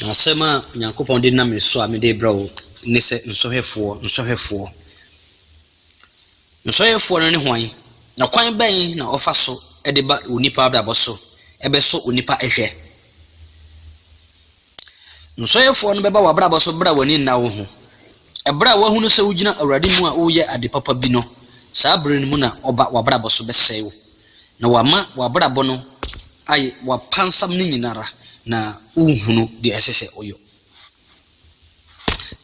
Na asɛm a Onyankopɔn de nam me so a mede rebrɛ wo ne sɛ, Nsɔhwɛfoɔ, nsɔhwɛfoɔ. Nsɔhwɛfoɔ no ne hwan, na kwan bɛn na wɔfa so de ba onipa abrabɔ so bɛsɔ onipa hwɛ? Nsɔhwɛfoɔ no bɛba w'abrabɔ so berɛ a w'ani nna wo ho. Berɛ a wɔahunu sɛ wogyina Awurade mu a woreyɛ ade papa bi no, saa berɛ no mu na wɔba w'abrabɔ so bɛsɛe wo. na ɔama w'abrabɔ no ayɛ w'apansam no nyinara na wohunu deɛ ɛsɛ sɛ woyɔ.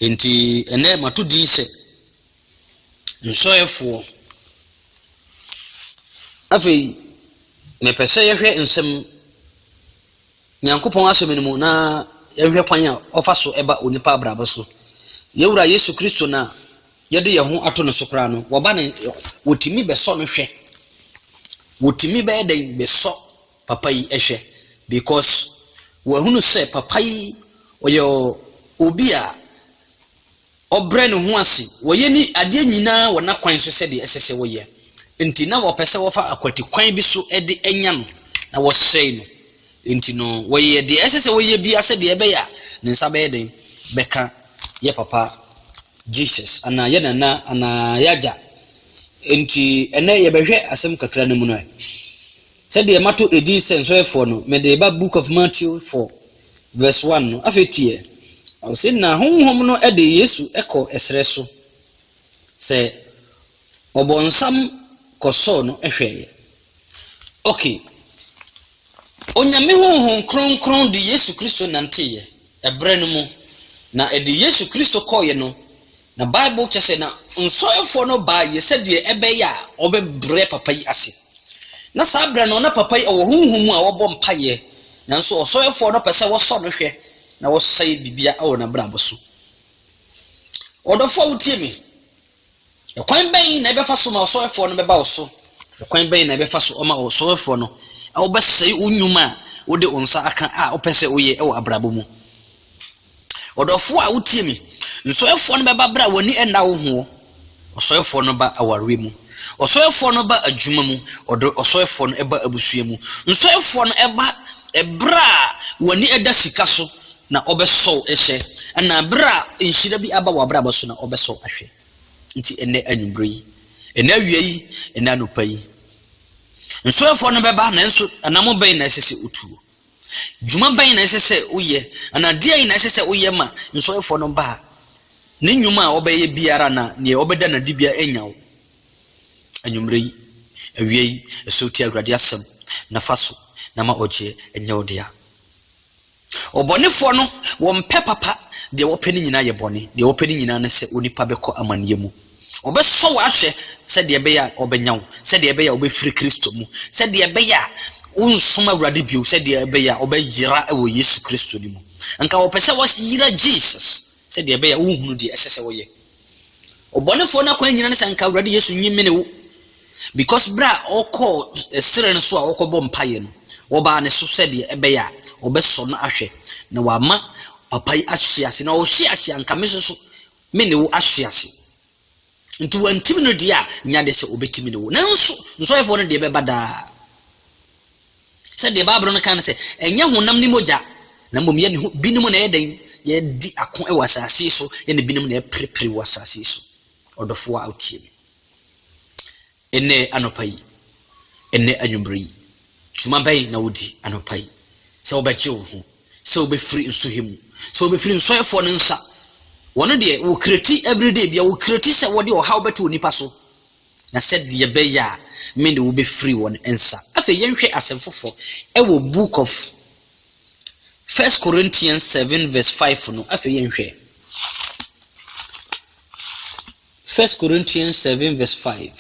Enti ɛnnɛ mato din sɛ nsɔeɛfoɔ. Afei mepɛ sɛ yɛhwɛ nsɛm Nyankopɔn asɛm no mu na yɛhwɛ kwan a ɔfa so ba onipa abrabɔ so. Yɛwura Yesu Kristo no a. Yɛde yɛn ho ato no so koraa no, wɔba no, wɔtumi bɛsɔ no hwɛ. Wɔtumi bɛyɛ dɛn bɛsɔ papa yi hwɛ? Because wɔahunu sɛ papa yi ɔyɛ obi a ɔbrɛ ne ho ase, wɔyɛ ne adeɛ nyinaa wɔ n'akwan so sɛdeɛ ɛsɛ sɛ wɔyɛ. Nti na wɔpɛ sɛ wɔfa akwati kwan bi so de anya no na wɔsɛe no. Enti no, wɔyɛɛ deɛ ɛsɛ sɛ wɔyɛ biara sɛdeɛ ɛbɛyɛ a ne nsa bɛyɛ den bɛka yɛ papa Jesus anaa yɛ nana anaa yɛ agya. Enti ɛnnɛ yɛbɛhwɛ asɛm kakra no mu no ɛ. Sɛdeɛ mato edin sɛ nsɔhwɛfoɔ no, mede reba Book of Matthew 4 verse 1 no. Afei tie ɛ. Ɔse, Na Honhom no de Yesu kɔ ɛserɛ so, sɛ ɔbɔnsam kɔsɔɔ no hwɛeɛ. Okay. Onyame Honhom Kronkron de Yesu Kristo nanteeɛ, ɛberɛ no mu, na ɛde Yesu Kristo kɔeɛ no, na Bible kyerɛ sɛ na nsɔhwɛfoɔ no baeɛ sɛdeɛ ɛbɛyɛ a wɔbɛbrɛ papa yi ase. Na saa berɛ no na papa yi ɔwɔ honhom mu a wɔbɔ mpaeɛ, nanso ɔsɔhwɛfoɔ no pɛ sɛ wɔsɔ no hwɛ na wɔsɛe biribiara wɔ n'abrabɔ so. Ɔdɔfoɔ a wotie me, Ɛkwan bɛn na ɛbɛfa so ma ɔsɔhwɛfoɔ no bɛba wo so? Ɛkwan bɛn na ɛbɛfa so ama ɔsɔhwɛfoɔ no abɛsɛe wo nnwuma a wode wo nsa aka a wopɛ sɛ woyɛ wɔ abrabɔ mu? Ɔdɔfoɔ a wotie me, nsɔhwɛfoɔ no bɛba berɛ a w'ani nna wo ho. Ɔsɔhwɛfoɔ no ba awareɛ mu. Ɔsɔhwɛfoɔ no ba adwuma mu. Ɔdɔ ɔsɔhwɛfoɔ no ba abusua mu. Nsɔhwɛfoɔ no ba berɛ a w'ani da sika so Na ɔbɛsɔ wo hwɛ. Ɛna bere a nhyira bi aba w'abrabɔ so no, ɔbɛsɔ wo ahwɛ. Nti ɛnnɛ anwummere yi, ɛnnɛ awia yi, ɛnnɛ anɔpa yi, nsɔhwɛfoɔ no bɛba, nanso anamɔ bɛn na ɛsɛ sɛ wotuo? Dwuma bɛn na ɛsɛ sɛ woyɛ? Anaa deɛn na ɛsɛ sɛ woyɛ ma nsɔhwɛfoɔ no ba a, ne nnwuma a wɔbɛyɛ biara anaa deɛ wɔbɛda no adi biara annya wo? Anwummere yi, awia yi, ɛsɛ wotie Awurade asɛm na fa so na ma ɔgyeɛ nyɛ wo dea. Ɔbɔnefoɔ no, wɔmpɛ papa, deɛ wɔpɛ no nyinaa yɛ bɔne, deɛ wɔpɛ no nyinaa ne sɛ onipa bɛkɔ amaneɛ mu. Wɔbɛsɔ wo ahwɛ sɛdeɛ ɛbɛyɛ a wɔbɛnya wo, sɛdeɛ ɛbɛyɛ a wobɛfiri Kristo mu, sɛdeɛ ɛbɛyɛ a worensom Awurade bio, sɛdeɛ ɛbɛyɛ a wɔbɛyera wɔ Yesu Kristo no mu. Anka wɔpɛ sɛ wɔyera Jesus sɛdeɛ ɛbɛyɛ a worenhunu deɛ ɛsɛ sɛ wɔyɛ. Ɔbɔnefoɔ no akwan nyina ne sɛ nka Awurade Yesu nyi me ne wo because berɛ a ɔkɔɔ serɛ no so a ɔkɔbɔ mpaeɛ no, wɔbaa ne so sɛdeɛ ɛbɛyɛ a ɔbɛsɔ no ahwɛ na wama papa yi ahwe ase na ɔhwe ase a nka me nso so me ne wo ahwe ase. Nti wantimi no deɛ a nyɛ adeɛ sɛ ɔbɛtimi ne wo. Nanso nsɔhwɛfoɔ no deɛ ɛbɛba daa. Sɛdeɛ Bible no ka no sɛ, Ɛnyɛ honam ne mogya, na mmom yɛn ho binom na ɛyɛ dɛn? Yɛredi ako wɔ asase yi so, yɛne binom na yɛreperepere wɔ asase yi so. Ɔdɔfoɔ a wotie me ɛnnɛ anɔpa yi, ɛnnɛ anwummerɛ yi, dwuma bɛn na wodi anɔpa yi? Sɛ wobɛgye wo ho, sɛ wobɛfiri nsohwɛ mu, sɛ wobɛfiri nsɔefoɔ no nsa, wɔn deɛ wɔkreti everyday bia wɔkreti sɛ wɔde ɔhaw bɛto onipa so na sɛdeɛ ɛbɛyɛ a me ne wo bɛfiri wɔn nsa. Afei yɛnhwɛ asɛm foforɔ wɔ book of First Corinthians seven verse five no, afei yɛnhwɛ. First Corinthians seven verse five.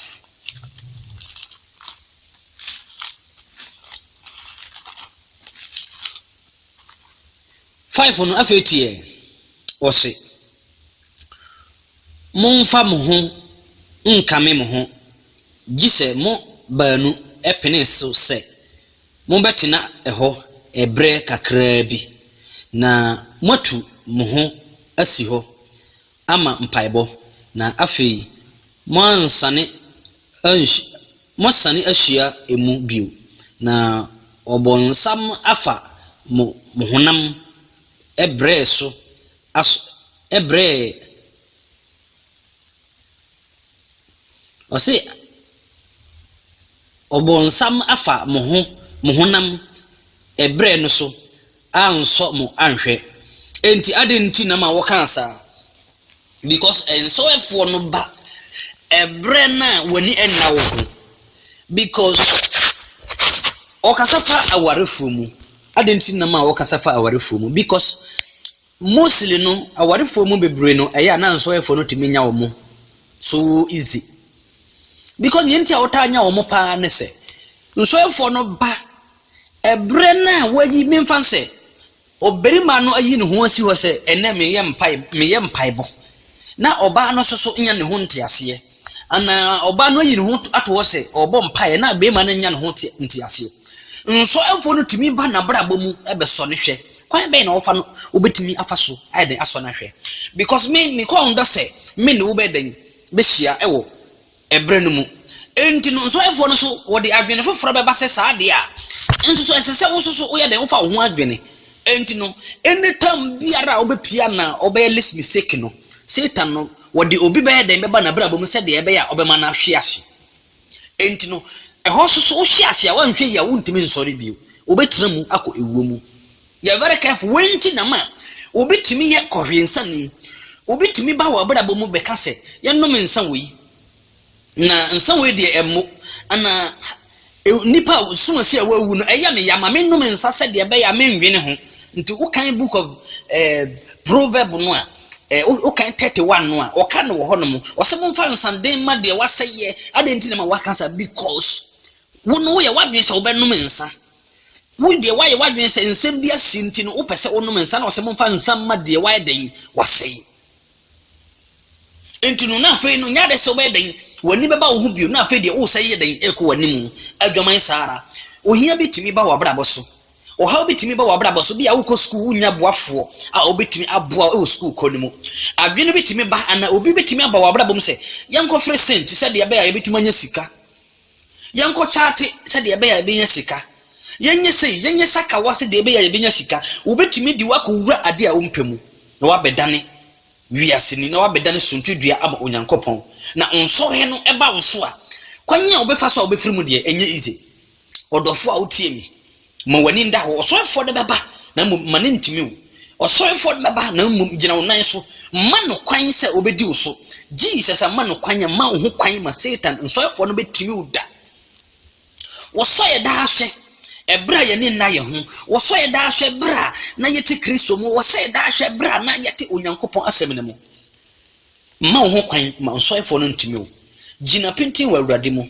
Five no afei tiɛ, ɔse. Mommfa mo ho nnkame mo ho, gye sɛ mo baanu pene so sɛ mobɛtena hɔ berɛ kakraa bi, na moatu mo ho asi hɔ ama mpaebɔ, na afei moansane anhyi moasane ahyia mu bio, na ɔbonsam afa mo honam brɛɛ so as ɛbrɛɛ ɔse ɔbonsam afa mo ho mo honam ɛbrɛ no so ansɔ mo anhwɛ ɛnti adɛn nti na ma wɔkaa saa because ɛnsɔɛfoɔ no ba ɛbrɛ no a w'ani nna wo ho because ɔkasa fa awarefoɔ mu. Adɛn nti na ma ɔkasa fa awarefoɔ mu? Because mostly no, awarefoɔ mu bebree no, ɛyɛ a na nsɔhwɛfoɔ no tumi nya wɔn so easy. Because nea nti a wɔtaa nya wɔn paa ne sɛ, nsɔhwɛfoɔ no ba Ɛberɛ no a wɔayi me mfa no sɛ ɔbarima no ayi ne ho asi hɔ sɛ ɛnnɛ meyɛ mpae meyɛ mpaebɔ na ɔbaa no nso so nya ne ho nteaseɛ anaa ɔbaa no ayi ne ho ato hɔ sɛ ɔbɔ mpaeɛ na barima no nya ne ho te nteaseɛ. Nsɔhwɛfoɔ no tumi ba n'abrabɔ mu bɛsɔ no hwɛ. Kwan bɛn na wɔfa no wobɛtumi afa so ayɛ dɛn asɔ no ahwɛ? Because me mekɔɔ dɔ sɛ me ne wo bɛyɛ dɛn bɛhyia wɔ ɛberɛ no mu. Enti no, nsɔhwɛfoɔ no so wɔde adwene foforɔ bɛba sɛ saa deɛ a, nso so ɛsɛ sɛ wo nso so woyɛ dɛn? Wofa wo ho adwene. Enti no, any time biara a wobɛpie anaa wobɛyɛ less mistake no, Satan no, wɔde obi bɛyɛ dɛn? Bɛba n'abrabɔ mu sɛdeɛ ɛbɛyɛ a ɔbɛma no ahwe ase. Enti no, ɛhɔ nso so wohwe ase a, woanhwɛ yie a, wontumi nsɔre bio. Wobɛtena mu akɔ ewuo mu. Yɛ very careful, wei nti na ma obi tumi yɛ kɔhwensani. Obi tumi ba w'abrabɔ mu bɛka sɛ, yɛnnom nsa wei, na nsa wei deɛ ɛmmo, anaa nnipa a sumasua a wɔawu no, ɛyɛ me ya ma mennom nsa sɛdeɛ ɛbɛyɛ a mennwene ho. Nti wokan book of eh, proverb no a, eh, wokan 31 no a, ɔka no wɔ hɔ nom, ɔsɛ momfa nsaden mma deɛ wasɛeɛ. Adɛn nti na ma waka saa? Because wo no woyɛ w'adwene sɛ wobɛnom nsa. Wo deɛ woayɛ w'adwene sɛ nsɛm bi asi nti no wopɛ sɛ wonom nsa na ɔsɛ momfa nsa mma deɛ wayɛ dɛn wasɛe nti no na afei no nyɛ ade sɛ wobɛyɛ dɛn w'ani bɛba wo ho bio na afei deɛ wosan yɛ dɛn ɛkɔ w'anim adwaman saa ara ohia bi tumi ba w'abrabɔ so ɔhaw bi tumi ba w'abrabɔ so bi a wokɔ sukuu wonya boafoɔ a wobɛtumi aboa wɔ sukuu kɔ no mu adwene bi tumi ba ana obi bɛtumi aba w'abrabɔ mu sɛ yɛnkɔfere sen te sɛ deɛ ɛbɛyɛ a yɛbɛtumi anya sika Yɛnkɔ kyate sɛdeɛ ɛbɛyɛ a yɛbɛnya sika. Yɛnyɛ sei, yɛnyɛ sakawa sɛdeɛ ɛbɛyɛ a yɛbɛnya sika. Wɔbɛtumi de wo akɔwura adeɛ a wompɛ mu, na woabɛdane wiaseni, na woabɛdane suntidua ama Onyankopɔn, na nsɔhwɛ no ba wo so a, kwan a wobɛfa so a wobɛfiri mu deɛ, ɛnyɛ easy. Ɔdɔfoɔ a wotie me. Ma w'ani nda hɔ. Ɔsɔrefoɔ no bɛba, na mmom mma no ntumi wo. Ɔsɔrefoɔ no bɛba, na mmom gyina wo nan so. Mma no kwan sɛ ɔbɛdi wo so. Jesus, mma no kwan, mma wo ho kwan ma Satan nsɔrefoɔ no bɛtumi wo da. Wɔsɔ yɛ daa hwɛ ɛberɛ a yɛne nna yɛ ho. Wɔsɔ yɛ daa hwɛ berɛ a na yɛte Kristo mu. Wɔsɔ yɛ daa hwɛ berɛ a na yɛte Onyankopɔn asɛm no mu. Mma wo ho kwan ma nsɔrefoɔ no ntumi wo. Gyina pintinn wɔ Awurade mu.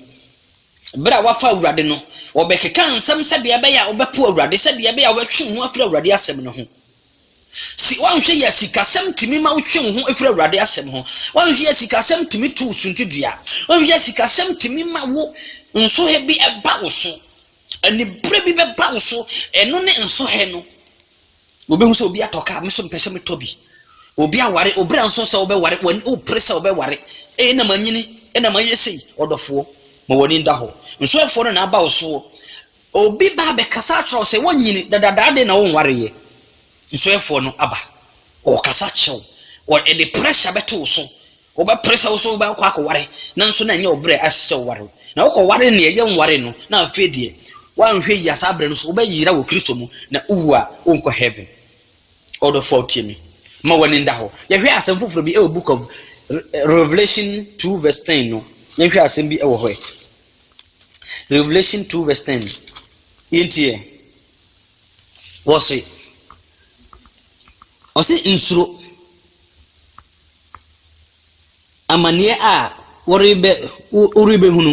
Berɛ a wɔafa Awurade no, wɔbɛkeka nsɛm sɛdeɛ ɛbɛyɛ a wobɛpo Awurade, sɛdeɛ ɛbɛyɛ a wobɛtwe wo ho afiri Awurade asɛm no ho. Si woanhwɛ yɛ sikasɛm tumi ma wotwe wo ho firi Awurade asɛm ho. Woanhwɛ yɛ sikasɛm tumi to wo suntidua. Woanhwɛ yɛ sikasɛm tumi ma wo nsohɛ bi ɛba wo so. Aniberɛ bi bɛba wo so, ɛno ne nsohɛ no. Wobɛhu sɛ obi atɔ kaa, me nso mepɛ sɛ metɔ bi. Obi aware, wo bra nso sɛ wobɛware, w'ani wopere sɛ wobɛware. Ee, na manyini, na mayɛ sei. Ɔdɔfoɔ, ma w'ani nda hɔ. Nsoɛfoɔ no na aba wo soɔ. Obi ba abɛkasa akyerɛ wo sɛ woanyini, dadadaa adeɛ na wonwareeɛ. Nsoɛfoɔ no aba, ɔrekasa kyerɛ wo, ɔde pressure bɛto wo so. Wobɛpere sɛ wo nso wobɛkɔ akɔware, nanso na ɛnyɛ wo berɛ a ɛsɛ sɛ woware. Na wokɔwaree nea ɛyɛ nwaree no, na afei deɛ, woanhwɛ yie a saa berɛ no nso wobɛyera wɔ Kristo mu, na wowu a, worenkɔ heaven. Ɔdɔfoɔ a wotie me, mma w'ani nda hɔ. Yɛhwɛ asɛm foforɔ bi wɔ book of Revelation two verse ten no, yɛnhwɛ asɛm bi wɔ hɔ ɛ. Revelation two verse ten, yɛntie. Wɔse, ɔse nsuro. amaneɛ a worebɛ wo worebɛhunu.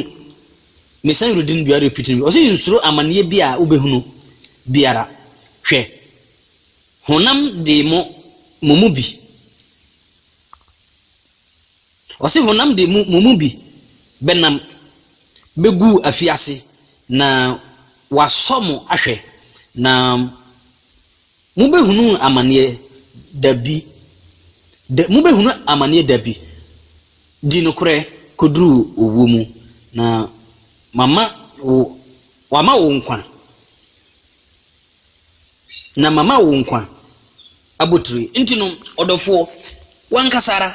Me san read no bio repeat no bio. Ɔse nsuro amaneɛ bi a wobɛhunu biara. Hwɛ, honam de mo, mo mu bi. Ɔse honam de mo, mo mu bi bɛnam bɛgu afiase na wasɔ mo ahwɛ na Mobɛhunu amaneɛ da bi da Mobɛhunu amaneɛ da bi Di nokorɛ kɔduru owuo mu Na Mama wo Wama wo nkwa Na Mama wo nkwa abotire Nti no ɔdɔfoɔ W'ankasa ara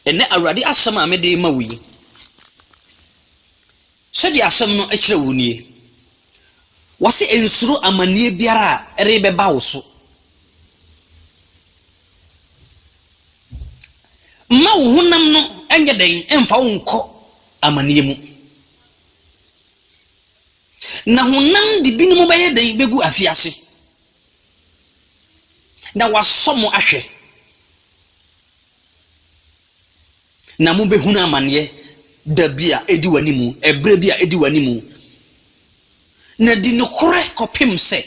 Ɛnnɛ Awurade asɛm a mede rema wo yi Sɛdeɛ asɛm no kyerɛ wo nie, Wɔse nsuro amaneɛ biara a ɛrebɛba wo so. Mma wo honam no nyɛ dɛn mfa wo nkɔ amaneɛ mu. Na honam de binom bɛyɛ dɛn bɛgu afiase, na wɔasɔ mo ahwɛ. Na mobɛhunu amaneɛ da bi a ɛdi w'anim, ɛberɛ bi a ɛdi w'anim. Na di nokorɛ kɔpem sɛ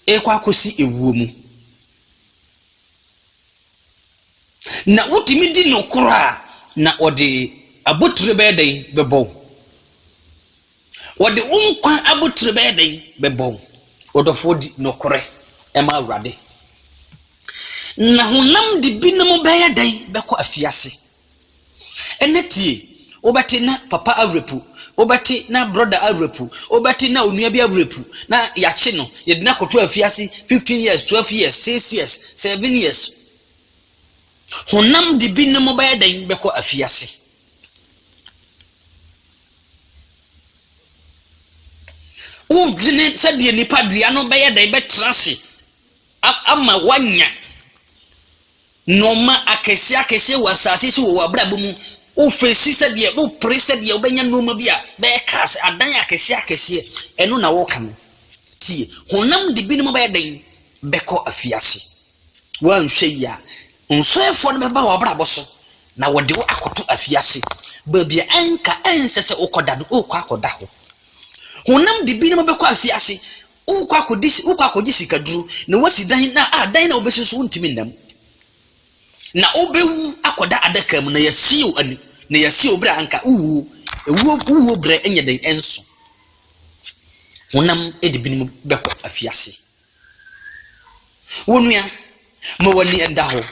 ɛrekɔ akɔsi ɛwuo mu. Na wotumi di nokorɛ a, na wɔde abotire bɛyɛ dɛn bɛbɔ wo. Wɔde wo nkwa abotire bɛyɛ dɛn? Bɛbɔ wo. Ɔdɔfoɔ di nokorɛ ma Awurade. Na honam de binom bɛyɛ dɛn? Bɛkɔ afiase. Ɛnɛ tie, wobɛte na papa awerɛpu, wobɛte na brɔda awerɛpu, wobɛte na onua bi awerɛpu, na yɛakye no, yɛde no akɔto afiase, 15 years, 12 years, 6 years, 7 years. Honam de binom bɛyɛ dɛn? Bɛkɔ afiase. Wodwene sɛdeɛ nipadua no bɛyɛ dɛn bɛtena ase ama woanya nnoɔma akɛseɛ akɛseɛ wɔ asase so wɔ w'abrabɔ mu. Wofɛsi sɛdeɛ, wopere sɛdeɛ wobɛnya nnoɔma bi a bɛyɛ cars, adan akɛseɛ akɛseɛ, ɛno na woka no. Tie, honam de binom bɛyɛ dɛn bɛkɔ afiase. Woanhwɛ yie a, Nsoɛfoɔ no bɛba w'abrabɔ so na wɔde wo akɔto afiase, baabi a anka ɛnsɛ sɛ wokɔda no, worekɔ akɔda hɔ. Honam de binom bɛkɔ afiase, worekɔ akɔdi, worekɔ akɔgye sikaduro na woasi dan na a dan na wobɛsi so wontumi nna mu. Na wobɛwu akɔda adaka mu na yɛasie wo ani, na yɛasie wo berɛ a anka wowuo, ewuo, wowuo berɛ nyɛ den ɛnso. Honam de binom bɛkɔ afiase. Wo nua, Ma w'ani nda hɔ.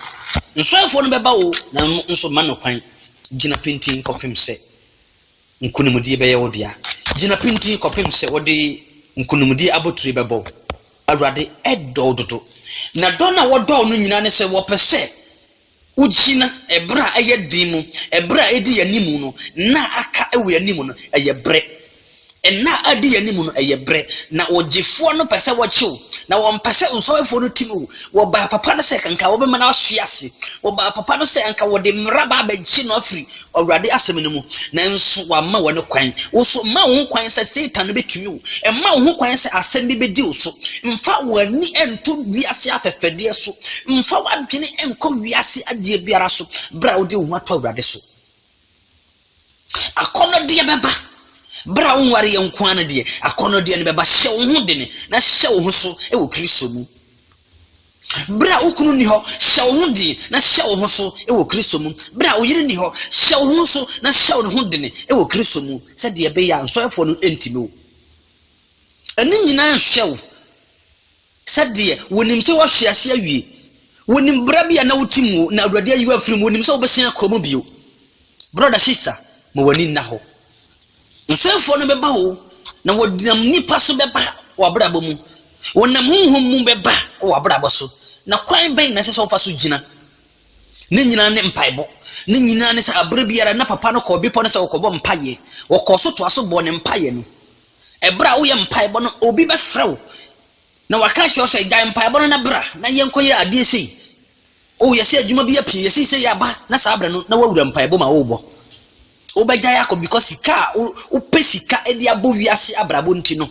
Nsoɛfoɔ no bɛba wo, nanso mma no kwan. Gyina pintinn kɔpem sɛ nkonimdie bɛyɛ wo dea. Gyina pintinn kɔpem sɛ wɔde nkonimdie abotire bɛbɔ wo. Awurade dɔ wo dodo, na dɔ no a wɔdɔ wo no nyinaa ne sɛ wɔpɛ sɛ wogyina ɛberɛ a ɛyɛ den mu, ɛberɛ a ɛdi yɛn anim no, nna a aka wɔ yɛn anim no, ɛyɛ berɛ. Nna a adi yɛn anim no, ɛyɛ brɛ. Ná ɔgyefoɔ no pɛ sɛ wɔkye wo. Ná ɔmpɛ sɛ nsɔhwɛfoɔ no tim wo. Wɔbaa papa no sɛ anka wɔbɛma no ahwe ase. Wɔbaa papa no sɛ anka wɔde mmara aba abɛgye no afiri Awurade asɛm no mu. Nanso wamma wɔn kwan. Wo nso, mma wo ho kwan sɛ Satan bɛtumi wo. Mma wo ho kwan sɛ asɛm bi bɛdi wo so. Mfa w'ani nto wiase afɛfɛdeɛ so. Mfa w'adwene nkɔ wiase adeɛ biara so berɛ a wode wo ho ato Awurade so. Akɔnnɔdeɛ bɛba. Berɛ a wonwareɛ nko ara no deɛ, akɔnnɔdeɛ no bɛba. Hyɛ wo ho dene na hyɛ wo ho so wɔ Kristo mu. Berɛ a wo kunu nni hɔ, hyɛ wo ho den na hyɛ wo ho so wɔ Kristo mu. Berɛ a wo yere nni hɔ, hyɛ wo ho so na hyɛ wo ho dene wɔ Kristo mu sɛdeɛ ɛbɛyɛ a nsɔhwɛfoɔ no ntimi wo. Ɛno nyinaa nhwɛ wo. Sɛdeɛ wɔnim sɛ woahwe ase awie. Wɔnim berɛ bi a na wote mu o, na Awurade ayi wo afiri mu. Wɔnim sɛ wobɛsan akɔ mu bio. Brɔda, sista, ma w'ani nna hɔ. Nsoɛfoɔ no bɛba o, na wɔnam nnipa so bɛba w'abrabɔ mu. Wɔnam honhom mu bɛba w'abrabɔ so. Na kwan bɛn na ɛsɛ sɛ wofa so gyina? Ne nyinaa ne mpaebɔ. Ne nyinaa ne sɛ aberɛ biara na papa no kɔɔ bepɔ no sɛ ɔkɔbɔ mpaeɛ. Ɔkɔɔ so toa so bɔɔ ne mpaeɛ no. Bere a woyɛ mpaebɔ no, obi bɛfrɛ wo na waka akyerɛ wo sɛ, gyae mpaebɔ no na bra na yɛnkɔyɛ adeɛ sei. O, yɛsɛ adwuma bi apue, yɛsɛ sei aba, na saa berɛ no, na woawura mpaebɔ mu a worebɔ. Wobɛgyae akɔ because sika a wopɛ sika de abɔ wiase abrabɔ nti no,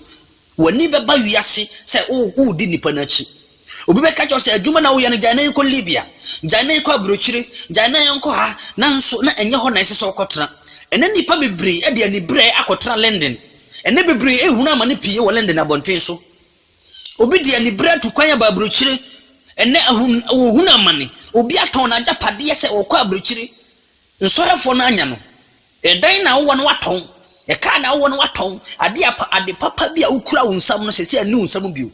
w'ani bɛba wiase sɛ woredi nnipa no akyi. Obi bɛka kyerɛ wo sɛ adwuma na woyɛ no gyae na yɛnkɔ Libya, gyae na yɛnkɔ aburokyire, gyae na yɛnkɔ ha, nanso na ɛnyɛ hɔ na ɛsɛ sɛ wokɔtena. Ɛnnɛ nnipa bebree de aniberɛ akɔtena London. Ɛnnɛ bebree rehunu amane pii wɔ London abɔnten so. Obi de aniberɛ atu kwan aba aburokyire. Ɛnnɛ ahun wɔhunu amane. Obi atɔn n'agyapadeɛ sɛ ɔkɔ aburokyire. Nsɔhwɛfoɔ no anya no. Ɛdan na wowɔ no woatɔn, ɛkaa na wowɔ no woatɔn, adeɛ a pa, ade papa bi a wokura wo nsam no sɛsɛ ɛnni wo nsam bio.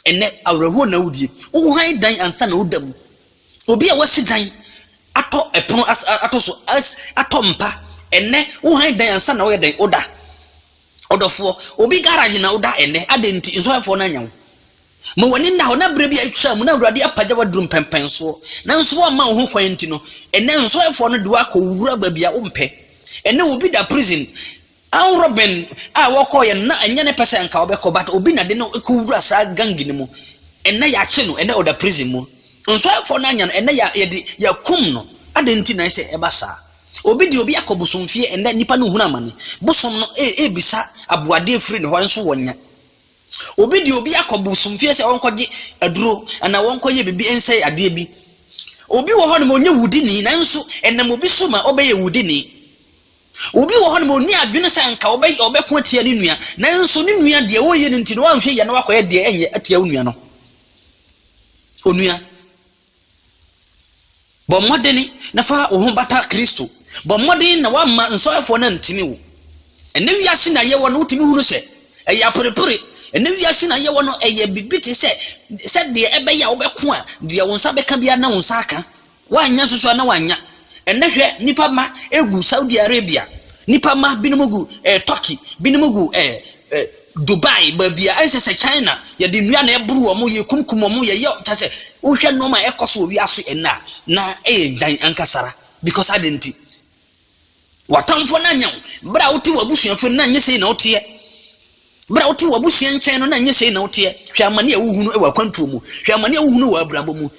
Ɛnnɛ, awerɛhoɔ na wodie. Wohan dan ansa na woda mu. Obi a wasi dan atɔ ɛpono as, ato so, as, atɔ mpa, ɛnnɛ wohan dan ansa na woyɛ dɛn? Woda. Ɔdɔfoɔ, obi garage na woda ɛnnɛ, adɛn nti? Nsɔhwɛfoɔ no anya wo. Ma w'ani nna hɔ, na berɛ bi a atwaa mu na Awurade apagya wo aduru mpɛnpɛnsoɔ, nanso woamma wo ho kwan nti no, ɛnnɛ nsɔhwɛfoɔ no de wo akɔ wo wura baabi a wompɛ. Ɛnnɛ obi da prison, Ann Robin a wɔkɔeɛ no na ɛnyɛ ne pɛ sɛ anka ɔbɛkɔ, but obi na de no kɔwura saa gangi no mu, ɛnnɛ yɛakye no, ɛnnɛ ɔda prison mu. Nsɔhwɛfoɔ no anya no, ɛnnɛ yɛ, yɛde, yɛakum no. Adɛn nti na ɛyɛ sɛ ɛba saa? Obi de obi akɔ bosomfie, ɛnnɛ nnipa no rehunu amane. Bosom no rebisa aboadeɛ afiri ne hɔ, nso wɔnnya. Obi de obi akɔ bosomfie sɛ ɔnkɔgye aduro anaa ɔnkɔyɛ biribi nsɛe adeɛ bi. Obi wɔ hɔnom ɔnyɛ wudini nanso ɛnam obi so ma ɔbɛyɛ wudini. Obi wɔ hɔnom ɔnni adwene sɛ anka ɔbɛ ɔbɛko atia ne nua nanso ne nua deɛ ɔreyɛ no nti no wanhwɛ yie na wakɔyɛ deɛ ɛnyɛ atia wo nua no. Onua. Bɔ mmɔden na fa wo ho bata Kristo. Bɔ mmɔden na woamma nsɔhwɛfoɔ no antini wo. Ɛnnɛ wiase na yɛwɔ no, wotumi hunu sɛ ɛyɛ aperepere. Ɛnnɛ wiase na yɛwɔ no, ɛyɛ biribi te sɛ sɛdeɛ ɛbɛyɛ a wobɛko a, deɛ wo nsa bɛka biara na wo nsa aka. Woannya nsusuaa na woannya. Ɛnnɛ hwɛ, nnipa mma gu Saudi Arabia, nnipa mma binom gu eh, Turkey, binom gu eh, eh, Dubai baabi a ɛnhyɛ sɛ China, yɛde nnua na ɛboro wɔn, yɛkunkum wɔn, yɛyɛ kyɛ sɛ wohwɛ nneɛma a ɛkɔ so wɔ wiase ɛnnɛ a, na ɛyɛ dwan ankasa ara. Because adɛn nti? W'atamfoɔ no anyɛ wo. Berɛ a wote w'abusuafo no, na ɛnyɛ sei na woteɛ. Berɛ a wote w'abusua nkyɛn no, na ɛnyɛ sei na woteɛ. Hwɛ amane a wohunu wɔ akwantuo mu. Hwɛ amane a wohunu wɔ abirabɔ mu.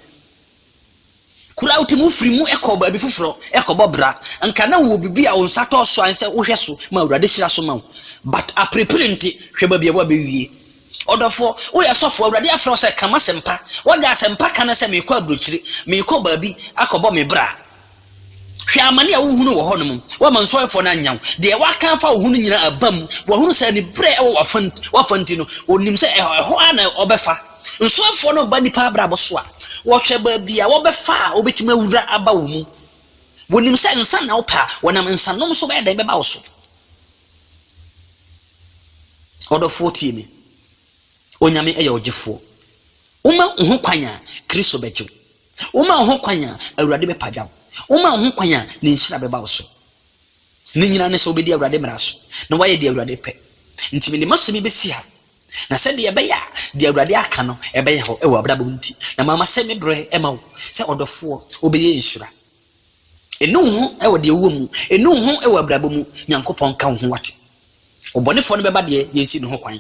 Kor a wotse mu fir mu kɔ beebi fofor kɔbɔ bra. Nka nna wowɔ biribi a wo nsa tɔ so a nsɛ wohwɛ so ma Ewuradze hyira so ma wo. But aperper ntsi, hwɛ beebi a woabewie. Ɔdɔfo, woyɛ sɔfo, Ewuradze afrɛ wo sɛ ka m'asɛmpa. W'agye asɛmpa ka no sɛ merekɔ aburokyir, merekɔ beebi akɔbɔ me bra. Hwɛ amane a wohunu wɔ hɔnom. Woama nsɔhwɛfoɔ no anya wo. Deɛ waka afa wo ho no nyinaa aba mu. Wahunu sɛ aniberɛ wɔ w'afa w'afa nti no, ɔnim sɛ ɛhɔ ɛhɔ ara na ɔbɛfa. Nsɔhwɛfoɔ no ba nnipa abrabɔ so a, wɔhwɛ baabi a wɔbɛfa a wɔbɛtumi awura aba wo mu. Wɔnim sɛ nsa na wopɛ a, wɔnam nsanom so bɛyɛ dɛn bɛba wo so. Ɔdɔfoɔ tie me. Onyame yɛ ɔgyefoɔ. Woma wo ho kwan a, Kristo bɛgye wo. Woma wo ho kwan a, Awurade bɛpagya wo. Woma wo ho kwan a, ne nhyira bɛba wo so. Ne nyinaa ne sɛ wobɛdi Awurade mmara so, na woayɛ deɛ Awurade pɛ. Nti mede m'asɛm yi bɛsi ha, na sɛdeɛ ɛbɛyɛ a deɛ Awurade aka no bɛyɛ hɔ wɔ w'abrabɔ mu nti, na mama sɛ me berɛ ma wo sɛ ɔdɔfoɔ, wobɛyɛ nhyira. Ɛnu wo ho wɔ deɛ wowɔ mu, ɛnu wo ho wɔ abrabɔ mu, Nyankopɔn nka wo ho wate. Ɔbɔnefoɔ no bɛba deɛ, yɛnsi ne ho kwan.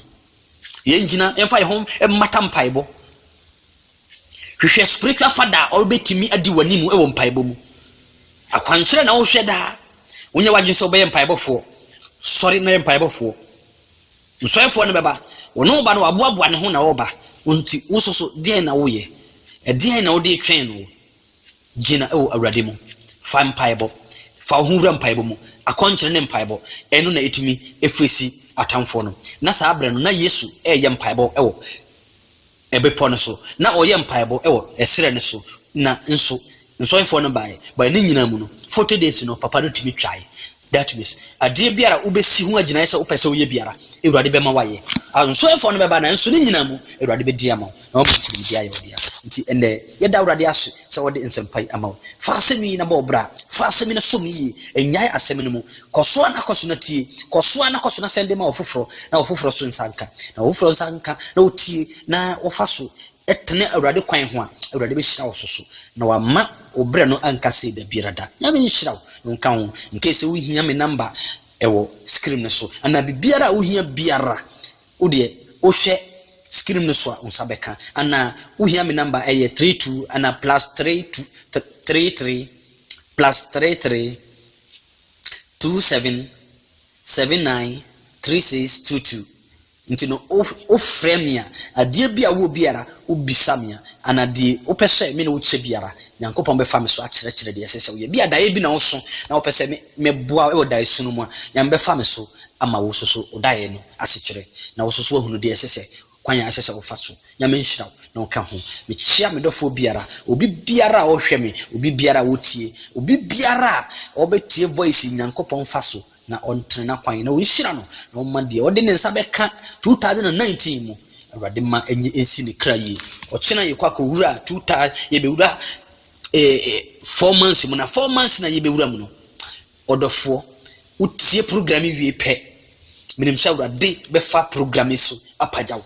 Yɛngyina, yɛmfa yɛn ho mmata mpaebɔ, Hwehwɛ spiritual father a ɔbɛtumi adi w'anim wɔ mpaebɔ mu. Akwankyerɛ na wohwɛ daa. Wonyɛ w'adwene sɛ wobɛyɛ mpaebɔfoɔ. Sɔre na yɛ mpaebɔfoɔ. Nsɔefoɔ no bɛba. Wɔne wo ba no waboaboa ne ho na ɔreba. Nti wo nso so deɛn na woyɛ? Ɛdeɛn na wode retwɛn no? Gyina wɔ Awurade mu. Fa mpaebɔ. Fa wo ho wura mpaebɔ mu. Akwankyerɛ ne mpaebɔ. Ɛno na ɛtumi ɛfesi atamfoɔ no. Na saa berɛ no na Yesu reyɛ mpaebɔ wɔ bepɔ no so, na ɔyɛ mpaebɔ wɔ ɛserɛ no so, na nso nsɔhwefoɔ no baeɛ, but ne nyinaa mu no, forty days no, papa no tumi twaeɛ, that means, adeɛ biara a wobɛsi ho agyinaeɛ sɛ wopɛ sɛ woyɛ biara, Awurade bɛma woayɛ, nsɔhwefoɔ no bɛba, nanso ne nyinaa mu, Awurade bɛdi ama wo, na woama no nkonimdie ayɛ wo dea, nti ɛnnɛ. Yɛda Awurade ase sɛ ɔde nsɛmpa yi ama wo. Fa asɛm yi na bɔ wo bra. Fa asɛm yi na sɔ mu yie. Nnyae asɛm no mu. Kɔ so ara na kɔ so na tie. Kɔ so ara na kɔ so na sɛnde ma ɔfoforɔ, na ɔfoforɔ nso nsa nka. Na ɔfoforɔ nsa nka na ɔtie na ɔfa so tene Awurade kwan ho a, Awurade bɛhyira wo so so, na wama wo berɛ no anka sei da biara da. Nyame nhyira wo na ɔnka wo ho. Incase sɛ wohia me number, ɛwɔ screen no so. Anaa biribiara a wohia biara, Wo deɛ wo hwɛ screen no so a wo nsa bɛka anaa? Wo hia me number a ɛyɛ three two anaa plus three two three three plus three three two seven seven nine three six two two nti no wo wo frɛ me a adeɛ bi a wo wɔ biara wo bisa me a anaa deɛ wo pɛ sɛ me ne wo kyɛ biara Nyankopɔn bɛfa me so akyerɛkyerɛ deɛ ɛsɛ sɛ wo yɛ ebia daeɛ bi na wo so na wo pɛ sɛ me me boa wo wɔ daeɛ su no mu a Nyame bɛfa me so ama wo so so wo daeɛ no asekyerɛ na wo so so wahunu deɛ ɛsɛ sɛ kwan a ɛsɛ sɛ wofa so. Nyame nhyira wo na ɔka ho. Mekyea me dɔfoɔ biara, obi biara a ɔhwɛ me, obi biara a ɔtie, obi biara a ɔbɛtie voice yi Nyankopɔn mfa so na ɔntene n'akwan na ɔnhyira no na ɔmma deɛ ɔde ne nsa bɛka 2019 mu Awurade mma ɛnye ɛnsi ne kra yie. Ɔkyena yɛkɔ akɔwura two thou yɛbɛwura eh, eh, four months mu na four months na yɛbɛwura mu no Ɔdɔfoɔ, wotie program yi wie pɛ, menim sɛ Awurade bɛfa program yi so apagya wo,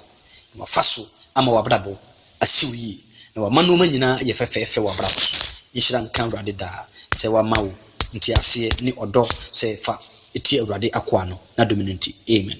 na wafa so ama w'abrabɔ asi wo yie, na wama nnoɔma nyinaa ayɛ fɛfɛɛfɛ wɔ w'abrabɔ so. Nhyira nka Awurade daa sɛ wama wo nteaseɛ ne ɔdɔ sɛ fa tie Awurade akoa no n'adom no nti. Amen.